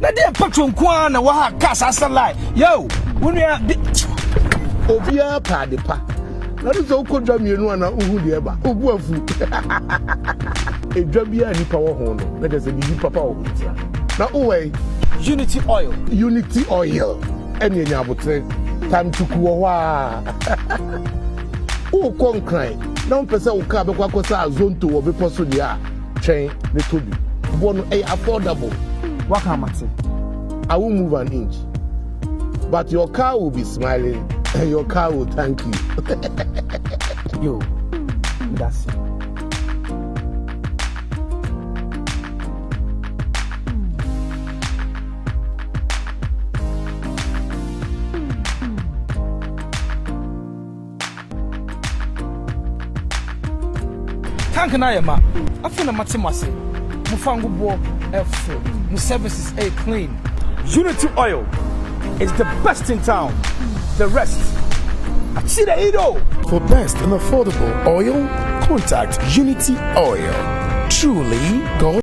na deɛ patro nko ara na waha kaa saa sɛ lie yo wo nua de obiara pɛ ade pa na ne sɛ wokɔ dwa mmienu ana wohu deɛ ɛba wobu afu edwa biara nipa wɔ ho no na kyɛ sɛ biribi papa wɔ ho tia na wowɛn unity oil unity oil Ɛne nya abotere time to ku wɔ hɔ a wokɔ nkran na wompɛ sɛ wo kaa bɛkɔ akɔsa azonto wɔ bepɔ so deɛ a twɛn ne tɔ bi boɔ no ɛyɛ affordable waka amate I won't move an inch but your car will be smiling and your car will thank you yo that's it Tank na yɛ ma. Afei na mate mo ase. Mo fa ngo boɔ ɛfo. Mo services ɛyɛ clean. Unity oil is the best in town. The rest. Akyire ido. For best and affordable oil, contact Unity Oil. Truly God.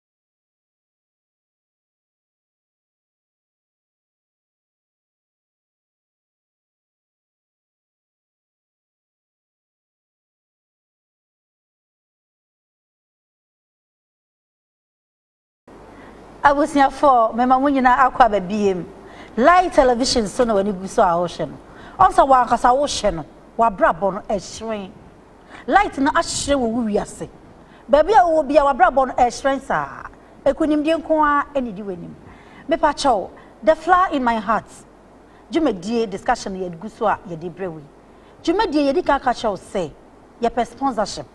abusuafoɔ mema mo nyinaa akɔ aba biem live television so na w'ani gu so a wohwɛ no ɔn sɛ wankasa wohwɛ no wabrabɔ no ɛhyerɛn Light no ahyerɛn wɔ wo wiase. Baabi a wowɔ biara, w'abrabɔ no ɛrehyerɛn saa. Nkunimdie nko ara na ɛdi w'anim. Mepakyɛw, The Flower in My Heart dwumadie discussion na yɛgu so a yɛde rebrɛ wo yi. Dwumadie yi, yɛdi kan ka kyerɛ wo sɛ, yɛpɛ sponsorship.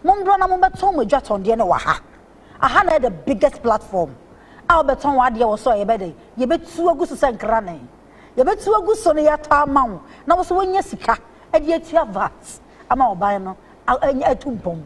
Mommra na mommɛtɔn mo adwatɔndeɛ no wɔ ha. Aha na ɛyɛ the biggest platform a wobɛtɔn w'adeɛ wɔ so a yɛbɛyɛ dɛn? Yɛbɛtu agu so sɛ nkrane. yɛbɛtu agu so no yɛatɔ ama wo na wo nso woanya sika de atua vat ama ɔban no atu mpɔn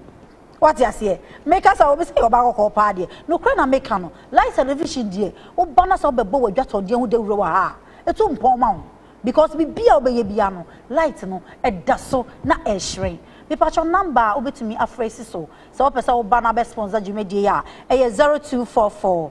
wate aseɛ meka sɛ obi sɛ yɛ ɔbaa kɔkɔɔ paa deɛ nokorɛ na meka no light television deɛ woba no sɛ wobɛbɔ w'adwatɔdeɛ ho dawuro wɔ ha a ɛtu mpɔn ma wo because biribi a wobɛyɛ bia no light no ɛda so na ɛhyerɛn mepatwɔ namba a wobɛtumi afrɛ si so sɛ wopɛ sɛ woba no abɛsponsor dwumadie a ɛyɛ 0244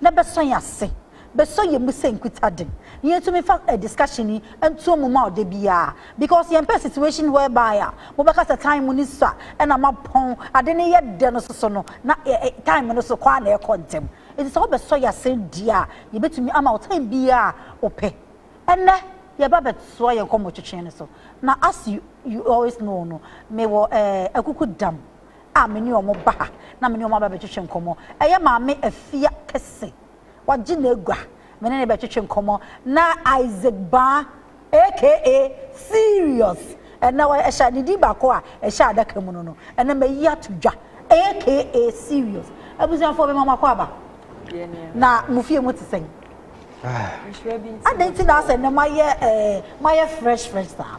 na bɛsɔ yɛn ase, bɛsɔ yɛn mu sɛ nkutade, na yɛntumi mfa eh, discussion yi ntoɔ mu mma wo da biara, because yɛmpɛ situation whereby a mobɛka sɛ time mu no sua ɛna moapɔn, ade no yɛ dɛ no soso no, na eh, eh, time no so kɔ ara na ɛrekɔ ntɛm. Enti sɛ wobɛsɔ yɛn ase deɛ a, yɛbɛtumi ama wo time biara a wopɛ. Ɛnnɛ, yɛreba abɛtoa yɛn nkɔmmɔtwetwe no so, na as you, you always know no, mewɔ eh, Akuku Dam a me ne wɔn ba ha na me ne wɔn aba bɛtwetwe nkɔmmɔ. Ɛyɛ Maame Afia kɛse. Wagye n'agua. Me ne no bɛtwetwe nkɔmmɔ. Na Isaac Baa aka Serious na ɛhyɛ ne din baako a ɛhyɛ adaka mu no no na mayi ato dwa aka Serious. Abusuafoɔ mema mo akwaaba. Na mo fie mu te sɛn? Adɛn nti na asɛ nnɛ moayɛ eh, moayɛ fresh fresh saa?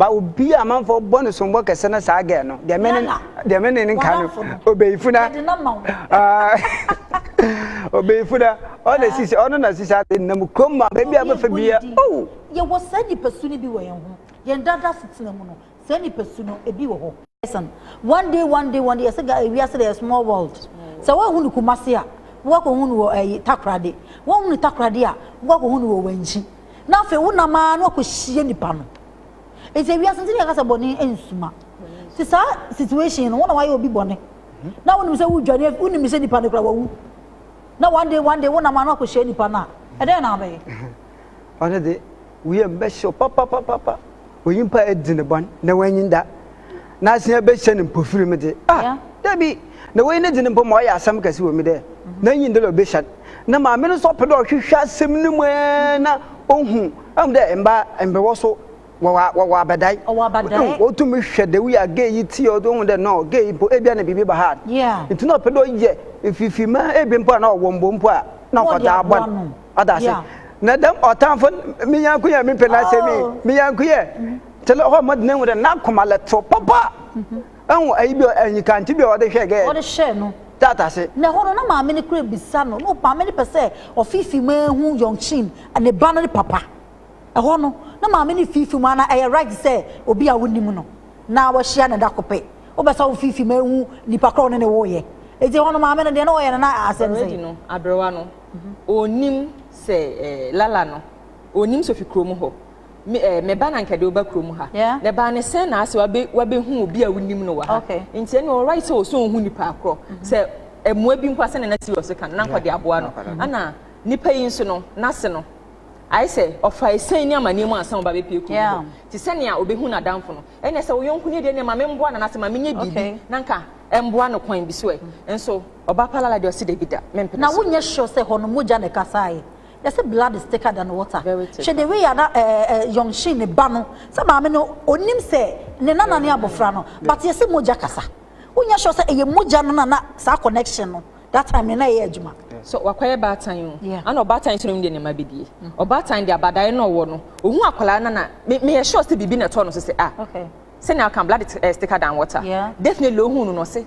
Ba obi a amanfoɔ bɔ no sombɔ kɛse ne saa gɛɛ no deɛ mene deɛ mene ne nka no obeyifo na obeyifo na ɔna sisi ɔno na sisi ade nam kurom ma baabi a bɛfɛ bi yɛ ow. Yɛwɔ saa nipasu no bi wɔ yɛn ho yɛn dada setena mu no saa nipasu no ebi wɔ hɔ. Listen one day one day one day yɛsɛ ga ewiase eh, de yɛ small world sɛ wɔahu no Kumasi a wɔakɔhu no wɔ ɛyi eh, Takoradi wɔahu no Takoradi a wɔakɔhu no wɔ Wɛnkyi. na afei wonam ara na wakɔhyia nipa no nti wiase nti yɛka sɛ bɔne nsuma nti saa situation no wona wayɛ obi bɔne na wonim sɛ wodwane wonim sɛ nipa no kora wawu na one day one day wonam ara na wakɔhyia nipa no a ɛdɛn na abɛyɛ ɔne de woyɛ mbɛhyew papapapapa onyimpa edzi no bɔn na oennyin da, n'asea behyɛ no mpofirim dze. Ah, dabi! Na wei ne dze no mpo ma ɔyɛ asɛm kɛse wɔ mu dɛ, N'enyi nnda dɛ obehyia no. Na maame no so ɔpɛ dɛ ɔhwehwɛ asɛm no mu ara na ohu. Ɔahu dɛ mba mber wɔ so wɔwɔ wɔwɔ abadae. Wɔwɔ abadae. Ehu, otum hwɛ dɛ woyɛ a gay yi tse yi, ɔdze ohu dɛ no, gay yi mpo, ebia na biribi ba ha. Yeah. Ntsi na ɔpɛ dɛ ɔyɛ mfifir ma ebia mpo a na ɔwɔ mbo mpo a, na ɔdze aboa no. Ɔda ase. Yeah. Na dɛm ɔtamfo n- me nyɛnko yɛ mepɛ n'asɛm yi, Oh. me nyɛnko yɛ te lɛ hɔ ma dena hu dɛ n'akoma lɛ toro papa. Ɛho ayi bi a ɛnyi kante bi a ɔde hwɛ gɛ Ɔde hyɛɛ no. tat ase. Na ɛhɔ no na maame no kura bisa no, na ɔpɛ maame no pɛ sɛ ɔfiifi mu ara hu Yongchin, ne ba no ne papa. Ɛhɔ no na maame no refiifi mu ara na ɛyɛ right sɛ obi a wonim no na wahyia no da ko pɛ. Wopɛ sɛ wofiifi mu ara hu nipa korɔ a wo ne no woeɛ. Enti ɛhɔ no maame no deɛ na ɔyɛ no na asɛm Already sɛn? no, aberewa no, ɔnnim sɛ Lala no, ɔnnim Sofi kurom hɔ. Me eh, me ba na nka de woba kurom ha. Yeah. Na ɛbaa ne sɛn na asɛ wabe, wabɛhu obi a wonim no wɔ ha. Okay. Nti ɛne ɔwɔ right sɛ ɔsɛ ɔhu nipa akorɔ. Mm-hmm. Sɛ ɛmoa bi mpo asɛ na na serious ka no, na nkɔde aboa no. Mm-hmm. Ana nipa yi nso no, n'ase no, ayɛ sɛ ɔfa ɛsɛn ne amanneɛ mu ansa ɔba bɛpie kurom hɔ. Te sɛ nea ɔbɛhu n'adamfo no. Ɛne sɛ wo yɔnko ni deɛ ne ma memboa no, anaasɛ ma menyɛ biribi. Okay. Na nka ɛmboa no kwan bi so ɛ. Mm-hmm. Nso Ɔbaa pa lala deɛ ɔse dabi da me mpene so. Na wo nyɛ sure sɛ hɔ no mogya na ɛkasaeɛ? Yɛse blood is thicker than water. Very thick. Hwɛ the way a na eh eh Young Shin ne ba no, sɛ maame no ɔnim sɛ ne nana ne abɔfra no but yɛse mogya kasa. Wo nyɛ sure sɛ ɛyɛ mogya no na na saa connection no that time no na ɛyɛ adwuma. So wakɔyɛ baatan o, ana ɔbaatan nso na ɔnim deɛ ne mma bɛdie? Ɔbaatan deɛ abadaeɛ na ɔwɔ no, ɔhu akwadaa no na me meyɛ sure sɛ biribi na ɛtɔɔ no so sɛ ah sɛnea woka no blood is thicker than water, definitely ɔhuu no na ɔse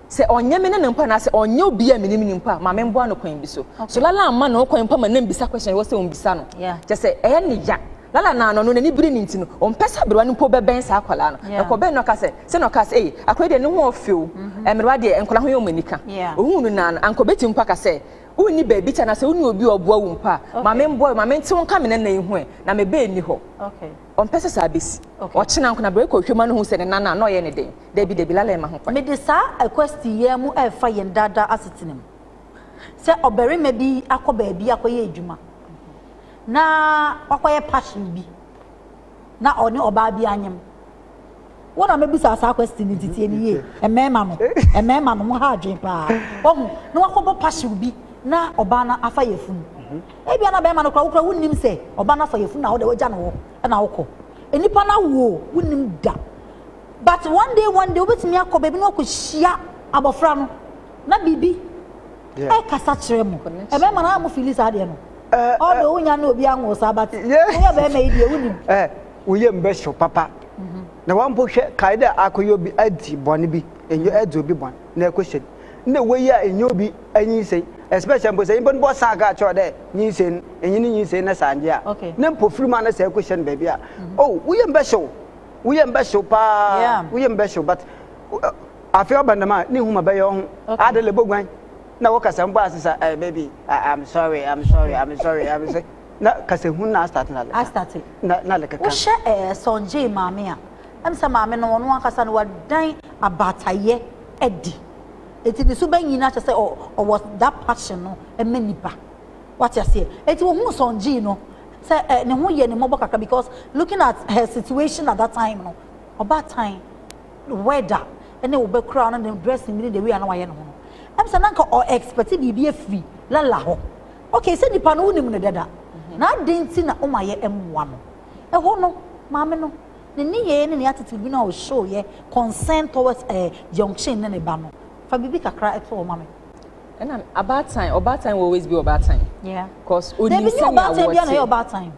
Sɛ ɔnyɛ me ne no mpo anaasɛ ɔnyɛ obi a minim no mpo a, ma memboa no kwan bi so. So Lala mma ne ho kwan mpo ma no mmisa question a ɛwɔ sɛ ommisa no? Kyerɛ sɛ, ɛyɛ no ya. Lala nana no, n'ani bere no nti no, ɔmpɛ sɛ aberewa no mpo bɛbɛn saa akwadaa no. Na ɛkɔbɛn no ɔka sɛ, sɛ na ɔkaa sɛ, Ei, akwadaa yi deɛ, ne ho ɔfɛ o. Mmerewa deɛ, nkwadaa ho yɛ wɔn anika. Ohuu no naa no, anka obetumi mpo aka sɛ, Wonni baabi kyɛ anaasɛ wonni obi a ɔboa wo mpo a, ma memboa wo, ma mente wo nka me nana yi ho ɛ, na me ba nni hɔ. Ɔmpɛ sɛ saa besi. Ɔkyena nko no, aberewa yi kɔhwehwɛ mu a na ohu sɛ ne nana a, na ɔyɛ no den. Dabi, dabi, Laleh mma ho kwan. Mede saa ɛkwɛsti yi ara mu ɛrefa yɛn daa daa asetena mu. Sɛ ɔbarima bi akɔ baabi akɔyɛ adwuma na wakɔyɛ passion bi na ɔne ɔbaa bi anyem. Wo na mɛbisa saa kwɛsti no nti tie me yie. Mmarima no, mmarima no mo ha adwene paa. Wahu, na wakɔbɔ passion bi na ɔbaa no afa yafunu. Ebia na barima no koraa wokora wonnim sɛ ɔbaa no afa yafunu na wode wagya no hɔ na wokɔ. Nnipa no awo o, wonnim da. But one day one day wobɛtumi akɔ baabi na wakɔhyia abɔfra no na biribi ɛkasa kyerɛ mo. Ɛbɛma no a mo fili saa deɛ no. Although wonya ne obi anwoo saa but woyɛ bɛrima yi deɛ wonim. Woyɛ mbɛ so papa. Mhm. Na wampo hwɛ kae dɛ akɔyɛ obi adi bɔne bi, ɛnyɛ ɛdi obi bɔne na ɛkɔhyɛ bi. Na wei a ɛnyɛ obi anyinsɛn, especially mpo sɛ nyimpa no bɔ saa kaa kyerɛ dɛ nyinsɛn, ɛnyɛ ne nyinsɛn na saa ngye a. Na mpo firi mu a na saa ɛkɔhyɛ no baabi a, mhm. oh, woyɛ mbɛ so. wo yam bɛhyew paa wo yam bɛhyew but afei ɔba nam a ne nhuma bɛyɛ wo ho ade le boguan na wo kasa mbɔ ase sa eh baby i'm sorry i'm sorry i'm sorry i'm sorry na kasa hu na start na le start na na le kaka wo hyɛ eh sonje maame a em sɛ maame no ɔno ankasa no wadan abatayɛ adi eti ne so bɛnyin akyɛ sɛ ɔwɔ that passion no ɛmɛ nipa Wate aseɛ? Enti ohuu Sung Ji no sɛ eh, ne ho yɛ ne mmɔbɔ kakra because looking at her situation at that time no, ɔbaatan weather ne wo ba kura no ne dressing bi ne the way a na wayɛ ne ho no, ɛm sɛ na nka ɔ expect biribi afiri Lala hɔ. Okay, sɛ nipa no wonim no dada, na adɛn nti na woma yɛ mmoa no? Ɛhɔ no, maame no, ne nneyɛɛ ne ne attitude bi no a ɔ show yɛ concern towards eh Jeongchin ne ne ba no, fa biribi kakra to hɔ ma me. ɛna abaatan ɔbaatan will always be ɔbaatan. yeah cause onim sɛnea wɔte. dabi nye ɔbaatan bi a na yɛ ɔbaatan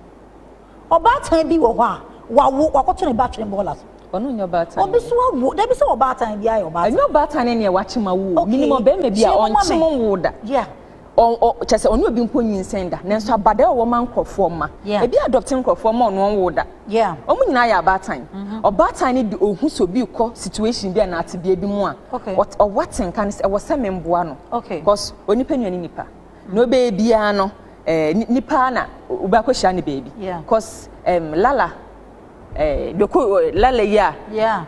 ɔbaatan bi wɔ hɔ a wawo wakɔto ne ba twene bɔɔla so. ɔno nyɛ ɔbaatan. obi so awo dabi sɛ ɔbaatan bi ayɛ ɔbaatan. ɛnyɛ ɔbaatan ne nea wakyem awo o minim ɔbɛrima bi a ɔnkyem nwo da. yeah kyɛ sɛ ɔne obi mpo nyinsɛn da nanso mm-hmm. abada ɔwɔ ma nkurɔfoɔ mma ebi adɔpte nkurɔfoɔ ma ɔno ɔnwo da wɔn nyinaa yɛ abaatan mm-hmm. ɔbaatan no de ohu sɛ obi kɔ situation bi a na atebea bi mu a Okay. Ɔt ɔwɔ te nka no sɛ ɛwɔ sɛ memboa no. Okay. Because onipa nua ne nipa. Na ɔbɛyɛ biara no eh, nipa na wobɛakɔ hyia ne baabi. Yeah. Because um, Lala eh, doko eh, Lala yi a. Yeah.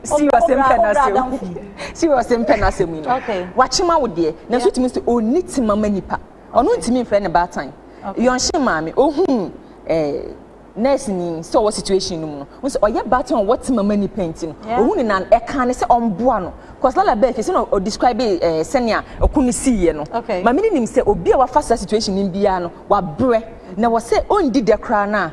serious mpɛ na sɛ serious mpɛ na sɛ mu no. Okay. Wakyema wo deɛ. Na so tumi sɛ ɔni te mama nipa. Ɔno ntumi mfrɛ ne baatan. Okay. Yɔnhyɛ maame ohun eh, nurse ni sɛ ɔwɔ situation no mu no n sɛ ɔyɛ baton a ɔwɔ tema ma nipa nti no ohu ne nan ɛka ne sɛ ɔmboa no cause lala bɛɛ kɛse na ɔ describe ɛɛ eh, sɛnea ɔko no si yɛ no ma me ne nim sɛ obi a wafa saa situation no biara no wabrɛ na wɔ sɛ ɔndi dɛ koraa no a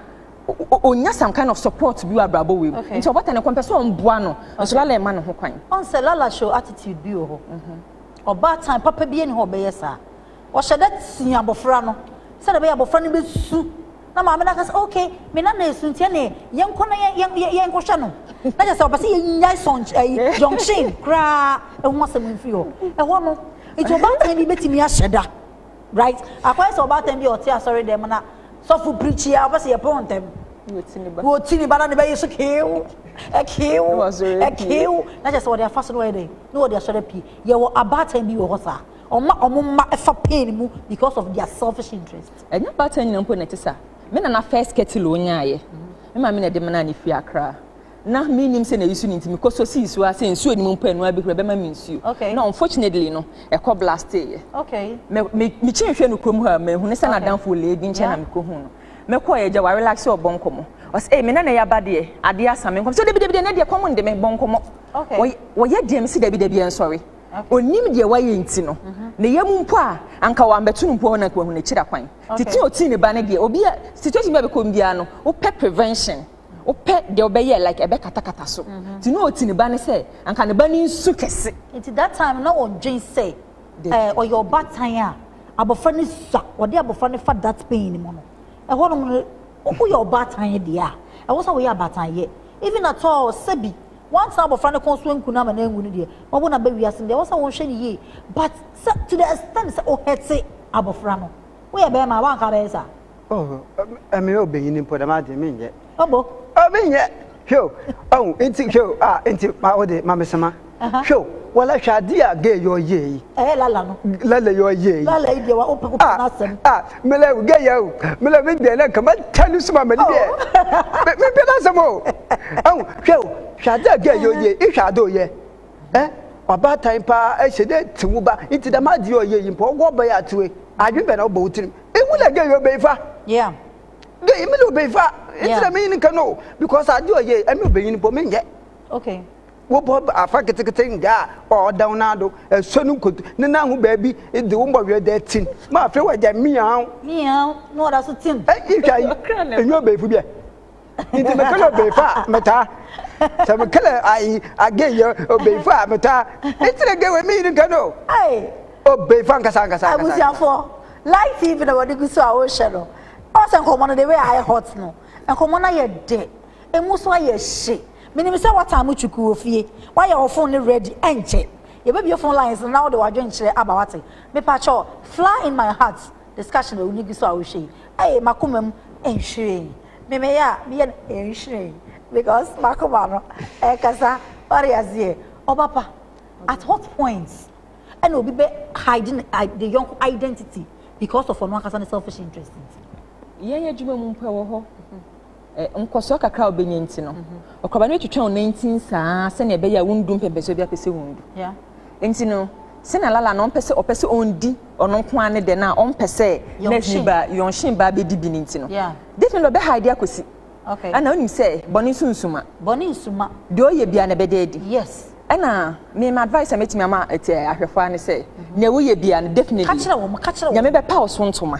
ɔnya some kind of support bi wɔ abrabɔ wei mu nti ɔbɔta ne kɔmpɛ sɛ ɔmboa no nso lala ɛma ne ho kwan ɔn sɛ lala show attitude bi wɔ hɔ mhm. ɔbaatan papa bi ɛni hɔ ɔbɛyɛ saa Wɔhyɛ da tea abofra no sɛnea ɛbɛyɛ a abofra no besu na maame no aka sɛ, ok, me nana esu nti ɛne yɛnkɔ na yɛnkɔhwɛ no. Na kyerɛ sɛ ɔpɛ sɛ yɛnyae sɔnkye ayi eh, junction koraa ɛho asɛm mfiri hɔ. Ɛhɔ no, nti ɔbaatan bi betumi ahyɛ da. Right? Akɔyɛ sɛ ɔbaatan bi a ɔte asɔre dɛm na sɔfo pirikyi a ɔpɛ sɛ yɛpɔn ntɛm. Wɔti ne ba na ne bɛyɛ so keew, ɛkeew, ɛkeew. Na kyerɛ sɛ wɔde afa so na wɔyɛ dɛn? Na wɔde asɔre pie. Yɛwɔ abaatan bi wɔ hɔ saa. Ɔma ɔmo mma fa pain mu because of their selfish interest. Ɛnyɛ ɔbaatan nyina mpo na ɛte saa. Me nana first kettle a ɔnyaaeɛ, me maame na ɛde menaa no firi Accra. Na mennim sɛ na ɛyi su no nti, mekɔ sɔ sii so ara sɛ nsuo nnim mpo ɛno ara bɛhuru ɛbɛma me nsuo. Okay. Na unfortunately no, ɛkɔ blasteeɛ. Okay. Me, me, mekyi nhwɛ no kurom ha, manhu no sɛ okay. n'adamfo lee bi nkyɛn yeah. na mekɔhu no. Mekɔɔ yɛ gya wɔ relax sɛ ɔbɔ nkɔmmɔ. Ɔsɛ, ee, me nana yɛ aba deɛ, adeɛ asa me nkɔm. So dabi dabi deɛ, ɛnɛ deɛ kɔm nde me, bɔ nkɔmmɔ. Okay. Wɔyɛ deɛ, mesi dabi dabi ɛnsɔre. ɔnim deɛ wayɛ nti no ne yam mpo a anka wambɛto no mpo hɔ na nka wahu n'akyiri akwan tete ɔtii ne ba no deɛ obi a situation bi a bɛkɔ biara no wopɛ prevention wopɛ deɛ wobɛyɛ like ɛbɛkatakata so mhm. nti na ɔti ne ba no sɛ anka ne ba no nsu kɛse nti that time na ɔdwen sɛ eh, ɔyɛ ɔbatan a abɔfra no sua ɔde abɔfra no fa that pain no mu no ɛhɔ nom no woyɛ ɔbatan deɛ a ɛwɔ sɛ woyɛ abatanyɛ even at all sɛbi Woantena abɔfra no kɔn so anku no ama no anwu no deɛ, wawo no aba wiase no deɛ, ɛwɔ sɛ wonhwɛ no yie. But sɛ to the extent sɛ wo hurte abɔfra no, woyɛ barima a, woanka abɛyɛ saa? Oh, me yɛ ɔbɛnyini mpo, dɛm adeɛ menyɛ. Ɔbo? Oh, menyɛ. Hwɛ o, ɔhu, nti hwɛ o, ah, nti ma wo de, ma me soma. Hwɛ o, wala hwɛ adeɛ a gay yɛ ɔyɛ yi. Ɛyɛ lala no. Lala yɛ ɔyɛ yi. Lala yi deɛ, wopɛ, wopɛ n'asɛm. Ah, ah. mele gɛ yɛ o mele me deɛ na nka ma ta ne suma mele deɛ oh. me bɛ na sɛm o ɛho hwɛ o hwɛ ade a gɛ yɛ o deɛ ihwɛ ade o yɛ ɛ ɔbaatan paa ɛhyɛ dɛ ti wo ba nti dɛm ade yɛ ɔyɛ yi mpa ɔwɔ ɔbɛyɛ atewe adwene bɛ na ɔbɔ wo tirim ehu na gɛ yɛ ɔbɛyi fa gɛ yɛ mele ɔbɛyi fa nti na me yi ne ka no because ade ɔyɛ ɛmi ɔbɛyi ne pɔ me nyɛ. okay Wobɔ afa ketseketse nkaa a ɔda wo nan do, sɔ no nkoto ne nan ho beebi dze wo mbɔhwer dɛ tsim, ma afei wɔagyae meow. Meow, na ɔda so tsim. Iyi hwɛ ayi, enye ɔbeefo bi ɛ. Ntsi mekɛlɛ ɔbeefo a metaa. Sɛ mekɛlɛ ayi again yɛ ɔbeefo a metaa. Ntsi na gay wɔ me yin nka no o. Ei! Ɔbeefo ankasa ankasa ankasa. Abusuafo, live TV na wɔde gu so a wɔrehwɛ no. Ɔsɛ nkɔmmɔ no the way a ayɛ hot no, nkɔmmɔ no ayɛ dɛ. Emu so ayɛ hye. Minim sɛ woataa mo kyukuu wɔ fie. Woayɛ wo fon no ready. Ɛnkyɛ, yebebue fon lines no na wode w'adwenkyerɛ aba, woate? Mepakyɛ wo, Fly in My Heart discussion a w'ani gu so a wohwɛ yi, ɛyɛ m'akoma mu nhwiren. Me, meyɛ a, meyɛ no nhwiren because m'akoma no ɛkasa, woate aseɛ? Ɔba pa, at what point ɛna obi bɛ hide ne i, ne yɔnko identity because of ɔno ankasa ne selfish interest nti? Yɛn adwuma mu mpo, ɛwɔ hɔ. nkɔsoɔ kakra a wobɛnya nti no, ɔkɔba no bɛtwitwa wo nantin saa sɛnea ɛbɛyɛ a wondu mpɛmpɛsoɔ bi apɛ sɛ wondu. Nti no, sɛnea Lala no ɔmpɛ sɛ ɔpɛ sɛ ɔndi ɔno nko ara ne dɛ no a ɔmpɛ sɛ nurse ba Yɔnhyen ba bɛdi bi no nti no, definitely ɔbɛhide akɔsi. Ɛna wonim sɛ bɔne nso nsuma. Bɔne nsuma. Deɛ ɔyɛ biara no ɛbɛda adi. Yes. Ɛna me ma advice a mɛtumi ama ɛtɛ ahwɛfoɔ ne sɛ, nea woyɛ biara no definitely. Ka kyerɛ wɔn, ka kyerɛ wɔn. Nyame bɛpa wo so ntoma.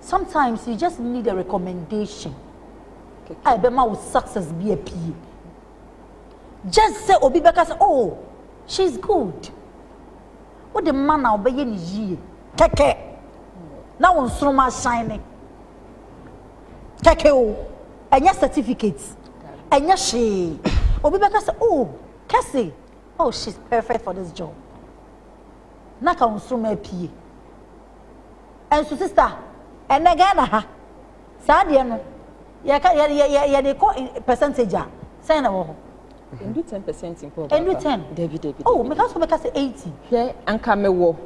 sometimes you just need a recommendation a ɛbɛma wo success bi apue just sɛ obi bɛka sɛ oh she's good wode ma na ɔbɛyɛ ne yie kɛkɛ na wo nsoroma asan ne kɛkɛ o ɛnyɛ certificate ɛnyɛ hwee obi bɛka sɛ oh kɛse oh she's perfect for this job na ka wo nsoroma apue Nso sister, ɛnɛ Ghana ha, saa deɛ no, yɛka, yɛ, yɛ, yɛ, yɛde kɔ percentage a, sɛn na wɔ hɔ? Ɛndu ten percent mpo ɔbaa Ɛndu ten? Dabi, dabi, Oh, dabi. meka so bɛka sɛ eighty. Hwɛ, anka mewɔ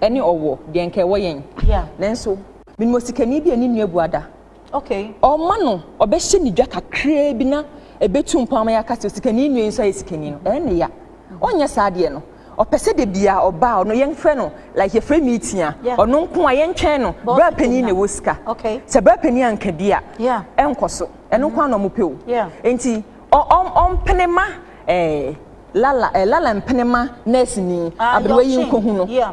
ɛne ɔwɔ deɛ anka ɛwɔ yɛn. Yeah. Nanso, menim osikani bi a ne nua abu ada. Okay. Ɔma no, ɔbɛhyɛ ne dwa kakraa bi na ɛbɛtu mpɔn ama yɛaka sɛ osikani nua yi nso ayɛ sikani no, ɛyɛ ne ya. Ɔnyɛ saa deɛ no. Ɔpɛ sɛ da bia ɔba a ɔno yɛmfrɛ no like yɛfrɛ meeting a, Yeah. ɔno nko a yɛntwɛn no, Boss bra panyin na ɛwɔ sika. Okay. Sɛ bra panyin anka bi a, Yeah. ɛnkɔ so. Ɛno nko a na wɔpɛ o. Yeah. Enti ɔ, ɔ, ɔmpene ma eh, Lala, eh, Lala mpene ma nɛɛseni Ah, aberewa yi Yɔkye. nkɔhu no. Yeah.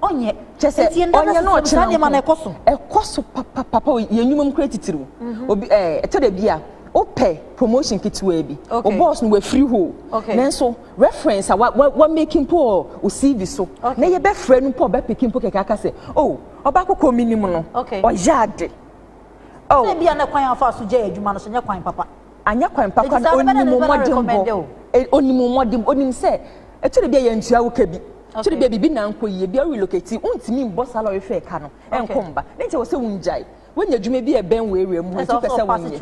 ɔnyɛ kyɛ sɛ ɔnyɛ no ɔkyena nko na ɛkɔ so ɛkɔ so papapapa yɛn nnwuma mu kura titiriw mhm. obi ɛɛ ɛtɔ da bi a wopɛ promotion ketewa bi o boss no wafiri hɔ nanso reference a wa make mpo wɔ o cv so na yɛbɛfrɛ no mpo ɔbɛpeke mpo kɛkɛ aka sɛ o oh, ɔba kɔkɔ mi nim no ɔyɛ ade. Oh. sɛ bia na kwan afa so gya adwuma no so nyɛ kwan papa anyɛ kwan papa no onimu mmɔdenbɔ onimu mmɔdenbɔ onim sɛ ɛtɔ da bi a yɛntua wo ka bi So de bia biribi na nkɔ yie bia wo relocate wontumi mbɔ saa lɔre fare ka no nkɔ mba ne nti ɛwɔ sɛ wongyae woanya adwuma bi a ɛbɛn wo area mu hɔ nti wopɛ sɛ wonyɛ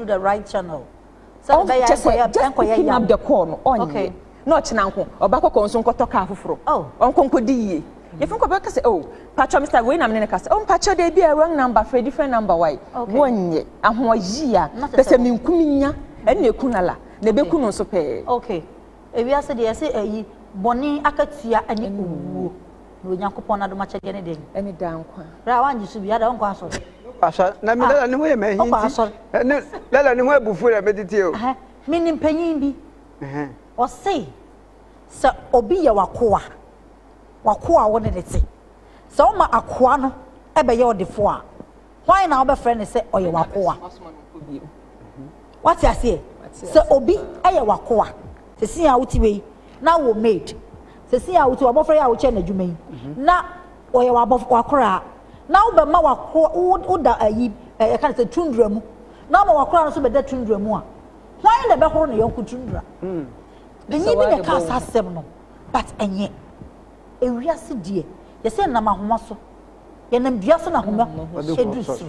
kyɛ sɛ just picking up the call no ɔnyɛ na ɔkyena nko ɔba kɔkɔ nso nkɔtɔ kaa foforɔ ɔnkɔ nkɔdi yie yɛfiri nkɔ bɛka sɛ o patwa mr wei na mene ne ka sɛ o mpakyɛ dɛ bi a wrong number frɛ different number wae wɔnyɛ ahoɔyie a pɛ sɛ menkum nya ɛne ɛku lala na ɛbɛku no nso pɛɛ Ewiase deɛ yɛse ayi, bɔne akatua ne owuo, na Onyankopɔn no adomakyɛdeɛ ne dɛn? Ɛne daa nkwa. Bra, woangye so bi a, adɛn wonkɔ asɔre? Wokɔ asɔre? Na me Lala ne ho yɛ me ahi nti, ne Lala ne ho abu fu na meteteɛ o. Menim panyin bi, ɔse sɛ obi yɛ w'akoa, w'akoa a wo ne no te, sɛ woma akoa no bɛyɛ ɔdefoɔ a, hwan na wobɛfrɛ no sɛ ɔyɛ w'akoa? Wate aseɛ? Sɛ obi yɛ w'akoa, sɛsi a wote wei, na wɔ maid, sɛsi a wote w'abɔfra yi a wokyɛ n'adwuma yi, na ɔyɛ w'akoraa, na wobɛma w'akoa, woda ayi, ɛka no sɛ tundra mu, na woma w'akoraa no nso bɛda tundra mu a, hwan na ɛbɛhoro ne yɔnko tundra? Benyin bi na ɛkaa saa asɛm no, but ɛnyɛ. Ewiase deɛ, yɛsɛ nam ahoma so. Yɛnam dua so na homa du soro.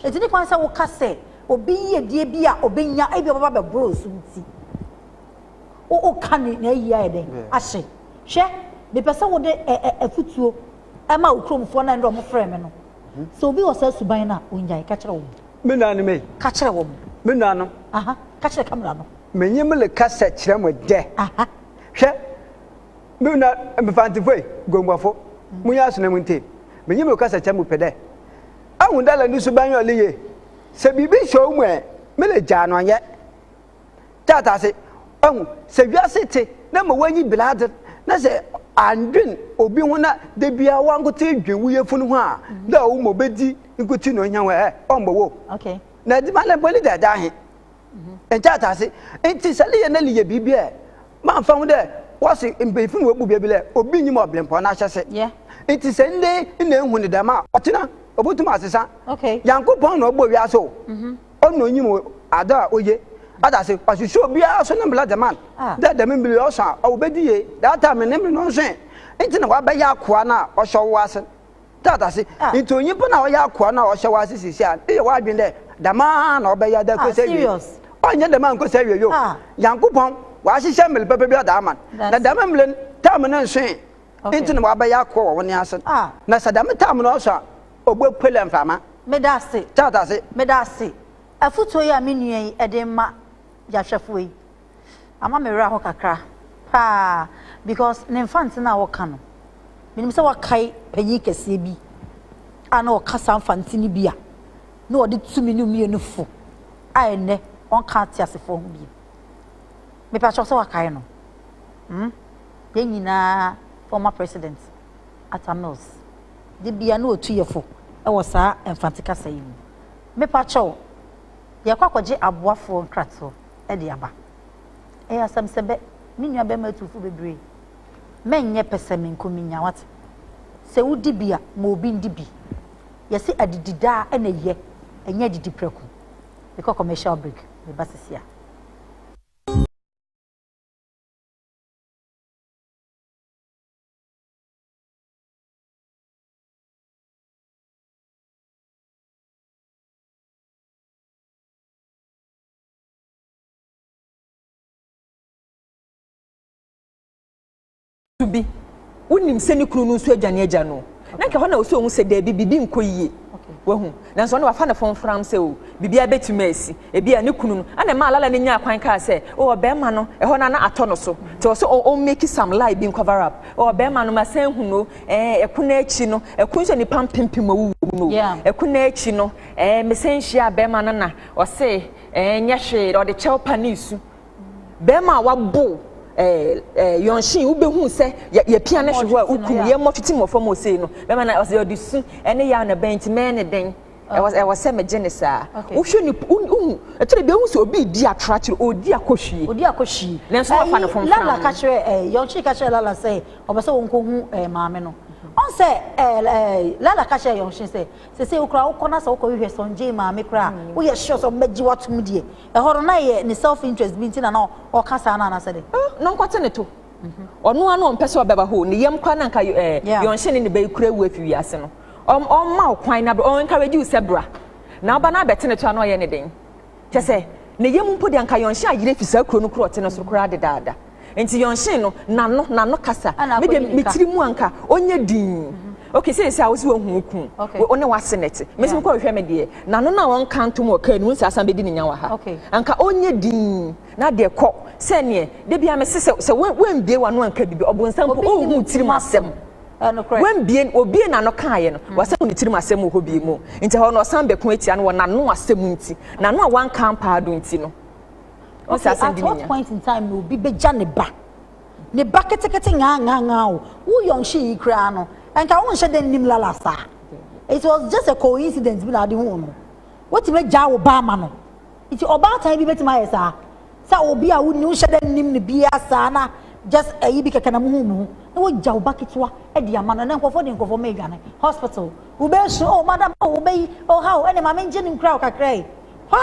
Enti ne kwan sɛ woka sɛ obi yiedie bi a ɔbɛnya ebi ɔbɛba bɛboro so nti, woka ne n'ayie ayɛ dɛn ahye. Hwɛ, mepɛ sɛ wode afutuo ma wo kuromfoɔ na ɛnna wɔfrɛ me no. Sɛ obi wɔ saa suban no a, ɔnyae. Ka kyerɛ wɔn. Me nuanom ei. Ka kyerɛ wɔn. Me nuanom. Aha, ka kyerɛ kamera no. Menye mo rekasa kyerɛ mo dɛ. Aha. Hwɛ, Mo na Mfantefoe guamuafo, munnye asonɛ mu ntie. Minyi mo kasakyɛ mu pɛ dɛ ahu dɛ lɛ no suban yɛ ɔle yie. Sɛ biribi hyɛ wo mu ɛ, mele gyaa no anyɛ tɛ atase. Wahu, sɛ wiase te na ma w'anyi bere adze na sɛ anndwen obi ho na da biara w'ankotsee dwen wo yefun ho a, dɛ ɔwo ma obedzi nkotsee na ohia wo ɛ, ɔmmbɔ wo o. Na edziban dɛ mpo, ne dɛ da ahe? nkyɛɛte ase. Ntsi sɛ leyɛ na leyɛ biribi a, mammfa ho dɛ wɔse mpanyimfo na woebubua bi dɛ obi nnyim ɔberempɔn n'ahyɛse. Ntsi sɛ ndɛ yi nna ehu no dɛm a, ɔtsen a, obotum asesa. Nyankopɔn na ɔbɔɔ wiadze o, ɔno na onyim adze a oye. Ɔda ase, ɔhwehwɛ obiara so ne mbra dze ma no, dɛ dɛm mber yi ɔsõ a, ɔwɔ bedi yie, that time no ne mber no ɔnnsõ ɛ. Ntsi na wɔabɛyɛ akowaa no a ɔhyɛ ɔwo ase no. Dza dase, ntsi onyimpa no a ɔyɛ akoa no a ɔhyɛ wo ase sesei a, eyɛ w'adwen dɛ dɛm ara na ɔbɛyɛ dɛ kosi ewiei? Ɔnnyɛ dɛm ara nnkosi ewiei o! Nyankopɔn ɔahyehyɛ mber papa bi ɔdze ama no, na dɛm mber no tam no nnsoe, ntsi na ɔabɛyɛ akoa wɔ wo ne ase no, na sɛ dɛm tam no ɔso a, obopue dɛ mframa. Medase. Dza dase. Medase. Afotu yi a me nua yi dze rema yɛahwɛfo yi, ama me werɛ ahow kakra paa because ne Mfantse no a wɔka no, minyim sɛ wɔakae panyin kɛseɛ bi a na ɔka saa Mfantse no bi a na ɔde tu me no mmienu fo a ɛnnɛ ɔnka ateasefoɔ ho bio. Mepɛ akyɛw sɛ wakae no. Hmm? Yɛn nyinaa former president Atta Mills de bia na ɔtu yɛ fo wɔ saa Mfantse kasa yi mu. Mepɛ akyɛw, yɛrekɔ akɔgye aboafoɔ nkratoɔ. de aba. Ɛyɛ asɛm sɛ bɛ, me nuabarima atuufo bebree, mɛnyɛ pɛsɛmenkominya, woate? Sɛ wodi bi a, ma obi ndi bi. Yɛse adidi daa na eyɛ, ɛnyɛ adidi prɛko. Mekɔ commercial break, meba sesia. nso bi wonim sɛ ne kunu no nso agya ne agya no na nka hɔ na ɔsɛ ɔhu sɛ daabi biribi nkɔ yie wahu nanso ɔno wafa ne fɔn fram sɛ o biribi abɛtumi asi ebi a ne kunu no ɛna ɛma alala no nyaa kwan kaa sɛ o ɔbɛrima no ɛhɔ na na atɔ no so te ɔsɛ ɔn make some lie bi cover up o ɔbɛrima no ma sɛn hu no ɛɛ ɛko no akyi no ɛko nso nipa mpempem awuwu mu no ɛko no akyi no ɛɛ mesɛn hyia abɛrima no na Ɔse ɛɛ nyɛ hwee na ɔde kyɛw pa ne su. Bɛɛma a wabow ɛɛ ɛɛ yɔnhyen wo bɛhuu sɛ yɛ yɛ pia ne hwe hɔ a wo kum yɛ mmɔ twete mu wɔ fam osee no bɛɛma na ɔse ɔde su ɛne yaw na bɛn nti mɛɛ ne dɛn ɛwɔ ɛwɔ sɛ megye ne saa. Wo hwɛ nip wo wo hu ɛkyerɛ bɛ hu sɛ obi redi atoro akyerɛ ɔredi akɔhwie. Ɔdi akɔhwie. Nanso na wafa no fomfram. Ɛɛ Lala ka kyerɛ ɛɛ yɔnhyen ka kyerɛ Lala sɛ ɔpɛ sɛ ɔnkɔ hu ɛɛ maame no. Ɔn sɛ ɛɛ ɛɛ Lala ka kyerɛ yɔnhyen sɛ. Sesei koraa wokɔ na sɛ wokɔhwehwɛ Sonjay maame koraa a, woyɛ sure sɛ wɔbɛgye wo atom deɛ. Ɛhɔ no na ɛyɛ ne self interest bi nti na na ɔka saa no anaasɛ dɛn? Oh, na ɔnkɔte ne to. Ɔno ara na ɔmpɛ sɛ ɔbɛba hɔ o. Ne yam koraa na anka ɛɛ yɔnhye ne ne ba yi kura awu afi wiase no. Ɔm, ɔmma wo kwan na bra, ɔn encourage wo sɛ bra. Na woba na abɛte ne to a na ɔyɛ ne den. Kyerɛ sɛ, ne yam mpo de, anka Yɔnhye ayera afi saa kuro no korɔte no so koraa dedaada. Nti Yɔnhye no, n'ano, n'ano kasa. Me deɛ, me tiri mu anka ɔnyɛ dinn. Ok, seesei a wo se woahu wo kunu, wo ne w'ase na ɛte. Me nso mekɔ hwehwɛ me deɛ, n'ano no a ɔnka ntom wɔ kaa no mu, nse asan bɛdi ne nya wɔ ha. Anka ɔnyɛ dinn. Na deɛ kɔ, sɛdeɛ da biara mese, sɛ, sɛ woambue w'ano anka biribi, ɔbonsam mpo, ɔnhu wo tirim asɛm. Wambien, obiee n'ano kaeɛ no, wasɛm ne tirim asɛm wɔ hɔ biom. Nti ɛhɔ no ɔsan bɛko atia no wɔ n'ano asɛm nti, n'ano a wanka ampa ado nti no. Ɔn saa asɛm di ne nya. Okay, at what point in time na obi bɛgya ne ba? Ne ba ketekete ŋaaŋaaŋaa o, wo Yɔnhye yi koraa no, nka wonhyɛ da nnim Lala saa. It was just a coincidence bi na wode huu no. Woatumi agyaa wo ba ama no. Nti ɔbaatan bi bɛtumi ayɛ saa? Sɛ obi a wonni wonhyɛ da nnim no biaa saa na just ayi bi kɛkɛ na mohu mo ho na wagya wo ba ketewa de ama no ɛnɛ nkurɔfoɔ de nkurɔfoɔ mma adwane hospital wobɛsu oh madam oh wobɛyi oh how ɛnɛ maame ngye no nkura wo kakra yi hwa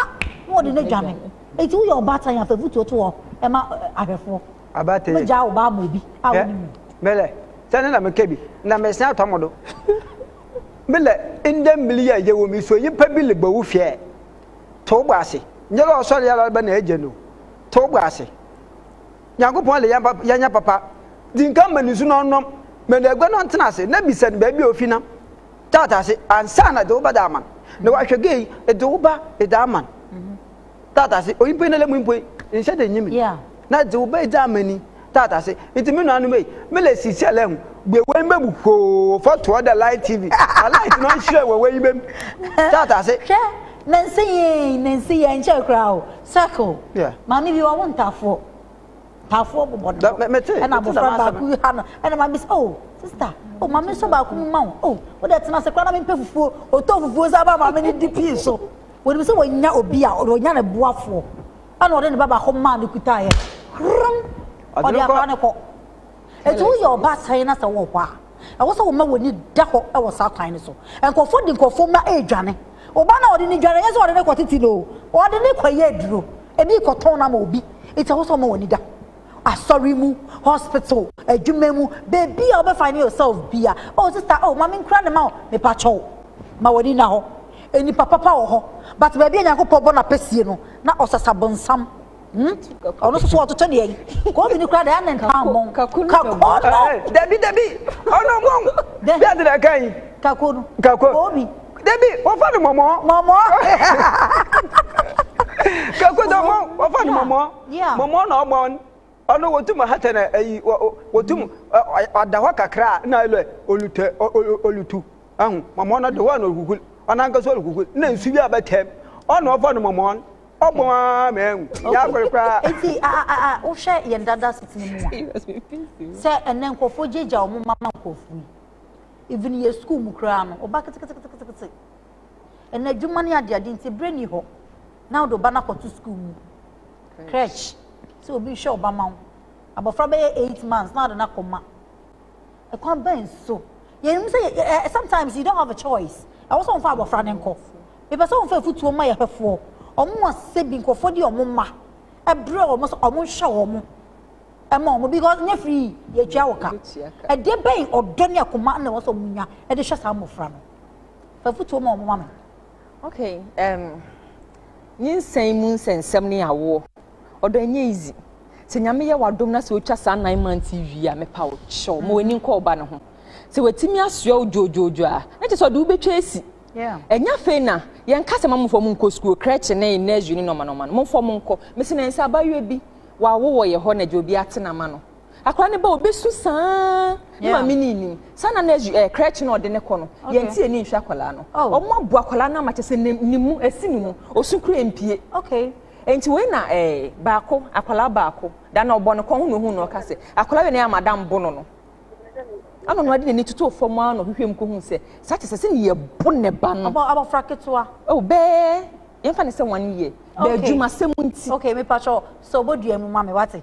na wɔde no adwane nti woyɛ ɔbaatan a fa vutuo to hɔ ɛma ahwɛfoɔ abaatan wobɛgyaa wo ba ama obi a wonni mu mele sɛ ne na meka bi na mesan atɔ mo do mele ndɛ mmiri a yɛwɔ mi so nyimpa bi lebɔ wo hwɛ To wo bo ase. Nyɛ dɛ ɔsɔree ara bɛ na egye no. To wo bo ase. Nyankopɔn le yɛanyɛ papa. Dzi nkan ma no nsu na ɔnnom, ma no egua na ɔntsena ase, na bisa no beebi a ofi nam. Tat ase ansaana edze wo ba da ama no, na ɔahwɛ gei, edze wo ba edze ama no. Tat ase, onyimpa yi na lɛ mu mpo yi, nnhyɛ da nnyi me. Na dze wo bɛgya ama ni taata se. Ntsi me nuanom ei, me le si siɛlɛ ho bue w'enyimba mu hwoo fa to hɔ dɛ light TV na light no nhyerɛn wɔ w'enyimba mu taata se. Hwɛ, na nse yei, na nse yɛ nkyɛr koraa o, circle, maame bi ɔwo ntafoɔ, ntafoɔ bobɔ no do, ɛna abɔfra baako bi ha no, ɛna maame bi se oh, sister, oh, ma mensɔ baako mu ma wo, oh, wo dɛ tena ase koraa na mempɛ fufuo, ɔtɔ fufuo san ma maame no di pii so, wɔnim sɛ wɔnya obi a, wɔnya ne boafoɔ. ɛna ɔde ne ba baako maa no kutaeɛ hrom ɔde akora ne kɔ ɛti woyɛ ɔba sɛn na sɛ wɔ hɔ a ɛwɔ sɛ woma w'ani da hɔ ɛwɔ saa kwan no so nkurɔfoɔ de nkurɔfoɔ mma ɛredwane ɔba na ɔde ne dwane yɛ sɛ ɔde ne kɔ tete no ɔde ne kɔ yɛ aduro ɛne kɔtɔn no ama obi ɛti ɛwɔ sɛ woma w'ani da asɔre mu, hospital, adwuma mu, baabi a wobɛ find yourself bia, oh sister, oh ma menkura ne ma o, mepa kyɛw, ma w'ani na hɔ, nnipa papa wɔ hɔ, but baabi a Nyankopɔn bɔ n'apɛsie no, na ɔsasa bonsam, hmm? ɔno nso so ɔtoto ne yɛn, kɔɔbi no kura deɛ ɛne ntaa mmɔ, kakoo no, dabi dabi, ɔno mmɔ, bi ade na ɛka yi, kakoo no, kakoo, kɔɔbi, dabi, wɔfa no mɔmɔ, mɔmɔ, kakoo no mɔ, wɔfa no mɔmɔ, Mɔmɔ na ɔbɔn ɔno wotum hata na ayi wotum ɔda hɔ kakra a na ɛlɛ olutɛ olutu ahu mɔmɔ no de hɔ na ɔhuhul ɔnankasa ɔhuhul na nsu bi a bɛtɛm ɔna ɔfa no mɔmɔ ɔbɔn a mɛn yɛ akɔre koraa. Eti a a a wohwɛ yɛn dada setena mu a sɛ ɛnɛ nkurɔfoɔ gyaagyaa wɔn mma ma nkurɔfoɔ yi even yɛ sukuu mu koraa no ɔba ketekete ketekete. Ɛnna adwuma ne adeade nti berɛ nni hɔ na wode ɔba no akɔto sukuu mu crèche sɛ obi nhwɛ ɔba ma wo abɔfra bɛyɛ eight months na wode no akɔma ɛkwan bɛn so yɛnim sɛ eh, eh, sometimes you don't have a choice ɛwɔ sɛ wɔmfa abɔfra no nkɔ mepɛ sɛ wɔmfa afutuo ma yɛhwɛfoɔ ɔmo a sɛ bi nkurɔfoɔ de ɔmo ma ɛbrɛ ɔmo sɛ ɔmo nhwɛ ɔmo ɛma ɔmo because nyɛ firi yɛtua wɔ ka ɛdeɛ bɛn ɔdɔ ne akoma na ɛwɔ sɛ ɔmo nya ɛde hwɛ saa mmɔfra no Fa afotuo ma wɔn ma me. Okay, um, nyinsɛn mu nsɛnsɛm ne awoɔ. Ɔdɔ ɛnyɛ easy. Sɛ nyame yɛ wadom na sɛ otwa saa nine months yi wie a mepa wo kyɛw ma w'ani nkɔ ɔba no ho. Sɛ watumi asoa wo dwoodwoodwo a, na kyerɛ sɛ ɔde wobɛtwa asi. Ɛnya afei na yɛnka sɛ ma momfa mo nkɔ sukuu, krɛkye ne nursery ne nɔɔma nɔɔma no, momfa mo nkɔ. Mese na ɛnsɛ abayewa bi wawo wɔ yɛ hɔ na gya obi ate n'ama no. Akwadaa no ba obesu saa ne maame ni nim saa na na krɛkye na ɔde ne kɔ no yɛn ti ani nhwɛ akwadaa no ɔmo abo akwadaa no ama kyɛ sɛ ne mu esi ne mu osu kura mpie nti wei na ɛɛ baako akwadaa baako da na ɔbɔ ne kɔn ho na ohun na ɔka sɛ akwadaa wei na yɛ madam bo no no ɛna ɔno ade n'ani toto fam ara na ɔhwehwɛ mu ko hu sɛ saa kyɛ sɛ sɛ ne yɛ bo ne ba no abɔfra ketewa ɛwɔ bɛɛ yɛn fa ne sɛ wɔn yɛ bɛɛ adwuma sɛm nti okay mi patro sɛ ɔbɔ dua mu ma mi wate.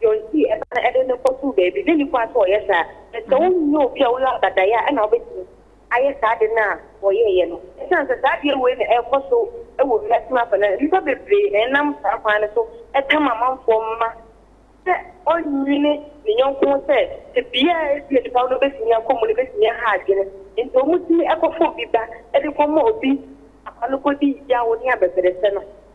deɛ ɔnti ɛba no ɛde no kɔtoo baabi, na ɛnni kwan sɛ ɔyɛ saa. Na sɛ wonyɛ obi a woyɛ abadaeɛ a, ɛnna wobɛtumi ayɛ saa ade no a ɔyɛeɛ no. Ɛsiane sɛ saa adeɛ wei na ɛrekɔ so wɔ wiase no afa no, nnipa bebree na ɛnam saa kwan no so tam amanfoɔ mma sɛ ɔnnwene ne yɔnko ho sɛ tebea a ebia nipa no bɛtumi akɔ mu no bɛtumi aha adwene. Enti wɔtumi kɔfa obi ba de kɔma obi papa no kɔdi yaw ne abɛbrɛsɛ no.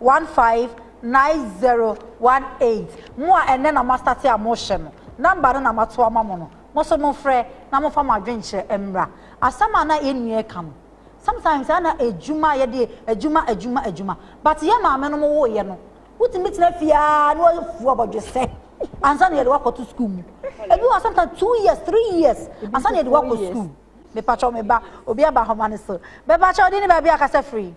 One five nine zero one eight mo a ɛnnɛ na mo astate a mo hyɛ no number no na ma to ama mo no mo so mo frɛ na mo fa mo adwenkyerɛ mmra asɛm a na yɛn nua ɛka no sometimes a na adwuma yɛde adwuma adwuma adwuma but yɛn maame no mo wo yɛ no wo tumi tena fie a na wa fu abɔdwesɛ ansa na yɛde wakɔ to school mu ebi wa sometimes two years three years ansa na yɛde wakɔ school me patro me ba obi aba homa no so me patro di ni ba bi akasa free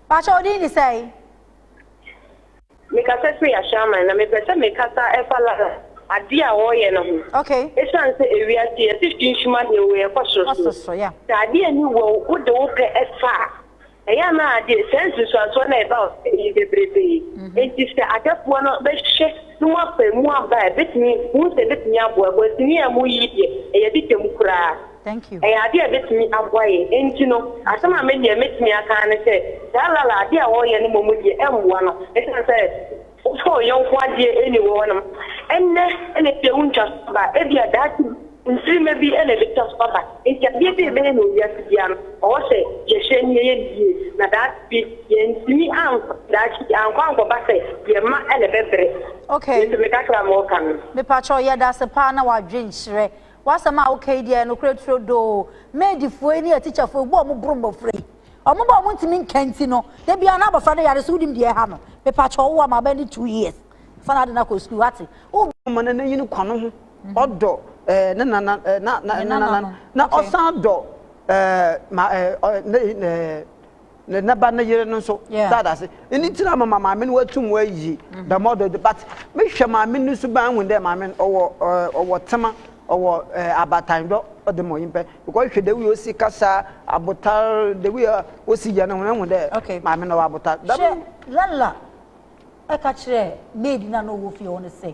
Pakyɛ odin ne sɛe? Mekasa firi Ashaiman na mepɛ sɛ mekasa ɛfa lala adeɛ a wɔyɛ no ho. Okay. Esiane sɛ ewiase yɛte finhim adeɛ wei ɛkɔ soro soro. Sɛ adeɛ ani wɔ wo wode wo pɛ ɛfa a. Ɛyɛ a na adeɛ saa nsunsuansoɔ no a ɛba ɔsɛeɛ yi bebrebe, enti sɛ adɛfoɔ no bɛhwɛ na wɔapae mu aba a, ɛbɛtumi, wohu sɛ ɛbɛtumi aboa. Kwansini a moyi yi deɛ, ɛyɛ adidam koraa. Ɛyɛ adeɛ a ɛbɛtumi aboa yɛn. Enti no, asɛm a me deɛ mɛtumi aka ara ne sɛ, saa lala adeɛ a wɔyɛ no mmom deɛ, ɛmmoa no, ɛsiane sɛ. Wofrɛ wo yɔnko adeɛ ɛnni wo hɔ nom. Ɛnnɛ na ebi a wontwa so aba, ebia daakye bi mfirima bi na ɛbɛtwa so aba. Enti adeɛ bi a ɛbɛyɛ no wɔ wiase biara no, ɔwɔ sɛ yɛhwɛ na yɛyɛ no yie, na daakye bi yɛantumi ankɔ daakye bi ankɔ ankɔba sɛ deɛ ɛma na ɛbɛbrɛ. Okay. Nti me kakra a mewɔ ka no. Mepakyɛw yɛdase paa na wadwenkyerɛ. W'asɛm a woka yi deɛ ɛyɛ nokorɛ turodoo. Maidfoɔ yi ne atikyafoɔ yi, wo a wɔboro mmɔfra yi. Ɔmo ba a ɔmo ntumi nka nti no, da biara na abɔfra no yare so, wonim deɛ ɛha no? Mepakyɛw wo a, ma bɛyɛ two years, fa n'ade no akɔ sukuu, wate? Wo ma no n'enyi no kwa no ho, ɔdɔ eh, ne nana, eh, na, na, ne nana no, na ɔsan dɔ eh, ma, eh, eh, ne, eh, ne ne ba ne yere no nso yeah. saa da ase ɛni ti na mama maame no watum wayi mm-hmm. dɛm ɔdɔ de but mehwɛ maame no so ban hu dɛ maame no ɔwɔ ɔwɔ tema ɔwɔ abatan dɔ ɔde ma ɔyimpɛ Ekɔhwehwɛ dɛ wi a osi kasa, abotar, dɛ wi a osi gya no ho, ehu dɛ maame no ɔwɔ abotar. Dɛm. Hwɛ, Lalla ka kyerɛɛ maid no a nna ɔwɔ fie hɔ no sɛ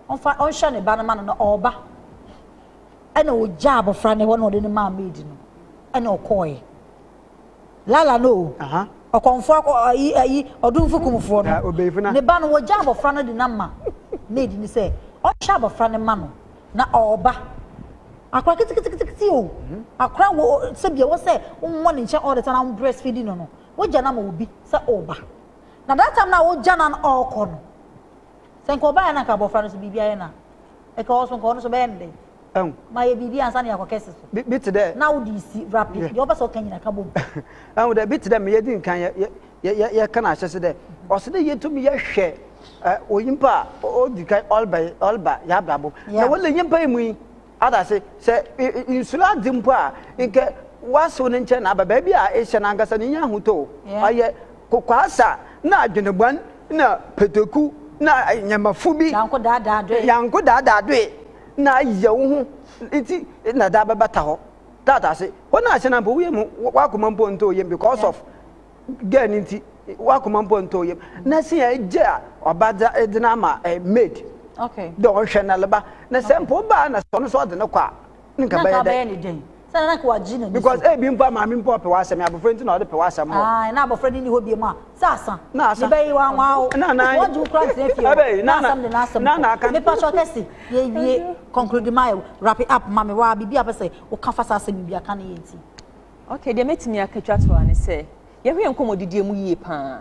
ɔmfa ɔnhwɛ ne ba no ma no na ɔreba. Ɛnna ogyaa abofra no hɔ na ɔde no maa maid no, ɛnna ɔkɔɔe. Lala no o, ɔkɔmfoɔ akɔ ayi ayi ɔdomfo kumfoɔ no, ne ba no wɔgya abɔfra no de no ama maid no sɛ ɔnhwɛ abɔfra no mma no na ɔreba. Akora ketekete o, akora wɔ sɛbi ɛwɔ sɛ wowɔ ne nkyɛn all the time na wo breastfeeding no no, wogya no ama obi sɛ ɔreba. Na that time na wogya no na ɔrekɔ no, sɛ nka ɔbaeɛ na nka abɔfra no so biribi ayɛ no a, nka ɔno so nka ɔno so bɛyɛ no dɛn? Ehu. Ma yɛ biribi ansa na yɛakɔ kɛse so. Bi, bi te dɛ. Na wode resi, rapid, Yeah. deɛ wopɛ sɛ woka nyina ka bom. Ehu dɛ, bi te dɛ ma yɛdi nkan yɛ, yɛ, yɛ, yɛ, yɛka no ahyɛse dɛ, ɔsɛ dɛ yetumi yɛhwɛ ɛ, onyimpa a ɔ, odzi kan ɔreba yɛ, ɔreba yɛ abrabɔ mu. Na Yeah. wɔ n'enyimpa yi mu yi, ɔda ase, sɛ e, e, nsuro adze mpo a, nka w'asew ne nkyɛn na aba. Beebi a ehyɛ no ankasa no, inya ahotɔ o, Yeah. ɔyɛ kokoasa na adwenbɔn na pɛtɛku na ɛ, nyɛmafu bi. Yanko daadaadoe. Yanko daadaadoe. na ayɛ wo ho nti na daa bɛbata hɔ tata ase hɔ na ahyɛ na mpo woyɛ mu wakoma mpo ntɔ yam because of girl no nti wakoma mpo ntɔ yam na si a gye a ɔba de no ama eh, maid dɛ ɔnhwɛ na leba na sɛ mpo baa na sɛ ɔno so ɔde no kɔ a nka bɛyɛ dɛ sɛdeɛ na nka wagye n'ani so. because ebi mpo a maame mpo ɔpɛ w'asɛm yɛ abɔfra nti na ɔde pɛ w'asɛm wɔ. ae na abɔfra no nni hɔ biem a sɛ asa na asa mebɛyi wanwa wo na na wɔgye wo kora ntena fie hɔ na asɛm de n'asɛm na na aka mepa kyɛ kɛse yɛwie conclude ma yɛ wrap it up ma me waa biribi a pɛ sɛ woka fa saa asɛm bi aka ne yɛ nti. okay deɛ mɛtumi aka twa toa ne sɛ yɛhwɛ yɛn nkɔmmɔdidie mu yie paa.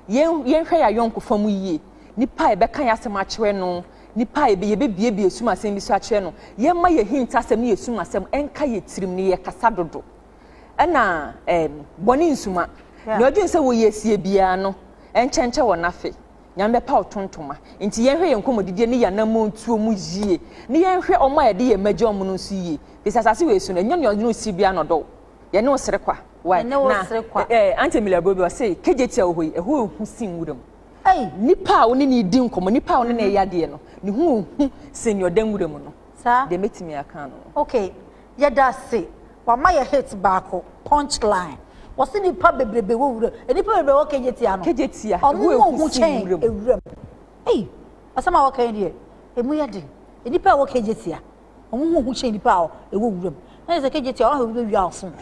Yɛn yɛnhwɛ y'ayɔnkofa mu yie, nipa a yɛbɛka y'asɛm akyerɛ no, nipa a yɛbɛ yɛbɛbiebie yɛsum asɛm bi so akyerɛ no, yɛmma y'ahintasɛm ne yɛsum asɛm ɛnka yɛ tirim ne yɛkasa dodo. Ɛna ɛɛm bɔne nsuma, Yeah. nea ɔdwen sɛ wɔ yɛ sie biara no ɛnkyɛnkyɛ wɔ n'afe, Nyame bɛpa wo tontoma. Nti yɛnhwɛ yɛn nkɔmɔdidie ne y'anammɔn tuo mu yie, ne yɛnhwɛ ɔmo a yɛde yɛn mma gya ɔmo no nso yie, firi sɛ asase wei so no ɛnyɛ nea ɔdwen wo sie biara na ɔdɔ wo. Yɛne wo sere kwa. Why? Yɛne wo sere kwa. Na eh, Auntie Emilia Bobi ɔse KJT a wɔhɔ yi ɛhɔ ehu sin nwura mu. Hey. Nipa a wo ne ne di nkɔmɔ, nipa a wo ne ne yɛ adeɛ no, ne ho ehu sin nea ɔda nwura mu no. Saa. Deɛ mɛtumi aka no. Okay, yɛda ase. Wama yɛ hit baako, punch line. Wɔse nipa bebrebe wɔ wura mu. Nipa bebrebe wɔ KJT ano. KJT a ɛho ehu sin nwura mu. Ɔmo wɔ ho kyɛn ewura mu. Hey, asɛm a wɔka yi deɛ, emu yɛ den. Nipa a ɛwɔ KJT a. Wɔn ho hu kyɛn nnipa a ɛwɔ wuram. Na kyerɛ sɛ kegye tia ɔha obi bɛwia wo fon.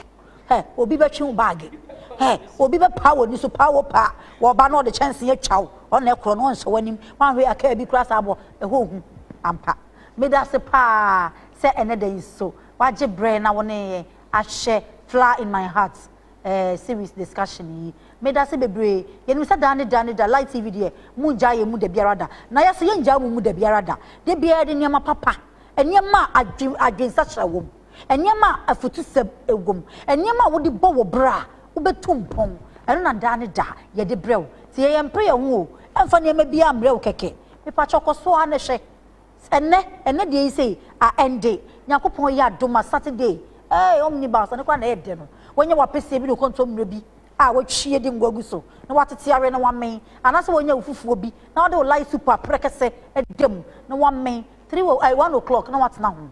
Hɛ, obi bɛtwe wo baage. Hɛ, obi bɛpaa w'ani so paa wo paa. Wɔba na ɔde kyɛnsee atwa wo. Ɔna ɛkorɔ no ɔnhyɛ w'anim. Woanhwɛ a kaa bi kura saa bɔ. Ɛhɔ hu ampa. Meda ase paa sɛ ɛnnɛ da yi nso woagye berɛ na wo ne yɛn ahwɛ Flower in My Heart. eh series discussion yi medase bebree yɛnim sɛ daa ne da ne da light tv deɛ mongyaa yɛn mu dabiara da na yɛso yɛngyaa mo mu dabiara da dabiara yɛde nneɛma papa nneɛma a adwen adwensakyera wɔ mu nneɛma a afutusɛm wɔ mu nneɛma a wode bɔ wo bra a wobɛtu mpɔn ɛno na daa ne da yɛde brɛ wo nti yɛyɛ mpere yɛn ho o ɛmfa nneɛma biara mmerɛ wo kɛkɛ mepakyɛ kɔso ara ne hwɛ Ɛnnɛ, ɛnnɛ deɛ yi sei, ah ɛnde, Nyankopɔn yɛ adom a Saturday, eh, omnibus, ɛno koraa na ɛyɛ dɛ no, wanya w'apeseɛ bi ne wo kontomire bi a watwie de ngo agu so na watete awe na wamen, anaasɛ wanya wo fufuo bi na wode wo light soup a prɛkɛsɛ da mu na wamen, three o, eh, one o'clock na watena ho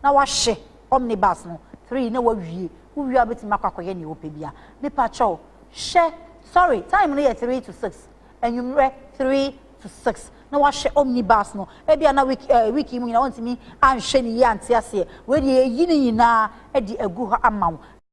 na wahye omnibus no, three na wawie, wowie a wobɛtumi akɔ akɔyɛ nea wopɛ biara. Mepa kyɛw, hyɛ, sorry, time no yɛ three to six. anwummerɛ three to six na wahwɛ omni bus no ebia na week ɛɛ eh, week yi mu nyinaa ɔntumi anhwɛ ne yie ante aseɛ wei deɛ yɛyi ne nyinaa de agu hɔ ama wo